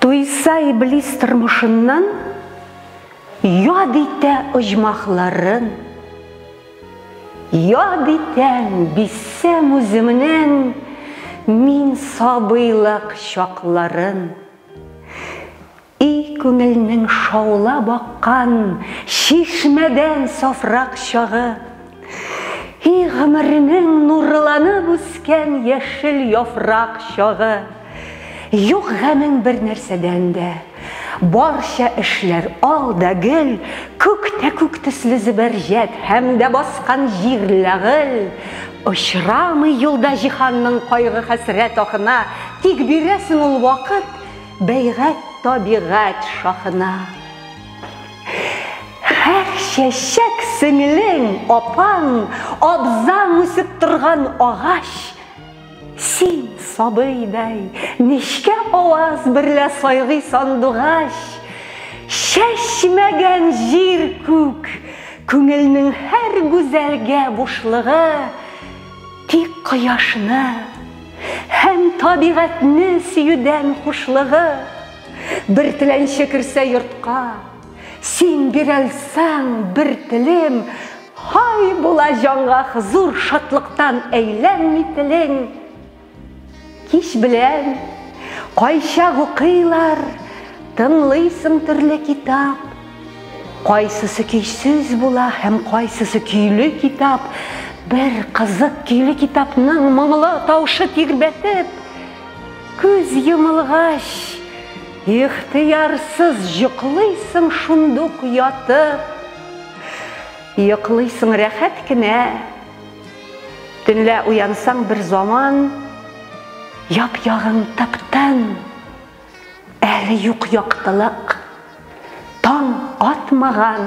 Туйса иблис тормышыннан яд итә оҗмахларын. Яд итәм бисәм үземнен мин сабыйлык чакларын. И күңелнең шаулап аккан чишмәдән сафрак чагы. И гомеренең нурланып үскән яшел яфрак чагы! Юк гамең бер нәрсәдән дә. Барча эшләр ал да гел, күк тә күк төсле зөбәрҗәт һәм дә баскан җир ләгыл. Очрамый юлда җиһанның кайгы-хәсрәт ахына, тик бирәсең ул вакыт бәйгать табигать шахына. Хәр чәчәк сеңлең, апаң, абзаң үсеп торган агач. Син сабыйдай нечкә аваз берлә сайгый сандугач. Чәчмәгән җир күк, күңелнең һәр гүзәлгә бушлыгы тик кояшны һәм табигатьне сөюдән хушлыгы. Бер теләнче керсә йортка, Син бирәлсәң бер телем, Хай була җанга хозур, Шатлыктан әйләнми телең. Кич белән, кайчак укыйлар, Тыңлыйсың төрле китап, Кайсысы көйсез була һәм кайсысы көйле китап, бер кызык көйле китапның моңлы таушы тирбәтеп, Күз йомылгач, ихтыярсыз йоклыйсың шундук ятып. Йоклыйсың рәхәт кенә. Төнлә уянсаң бер заман, яп-ягың тып-тын. Әле юк яктылык. Таң атмаган.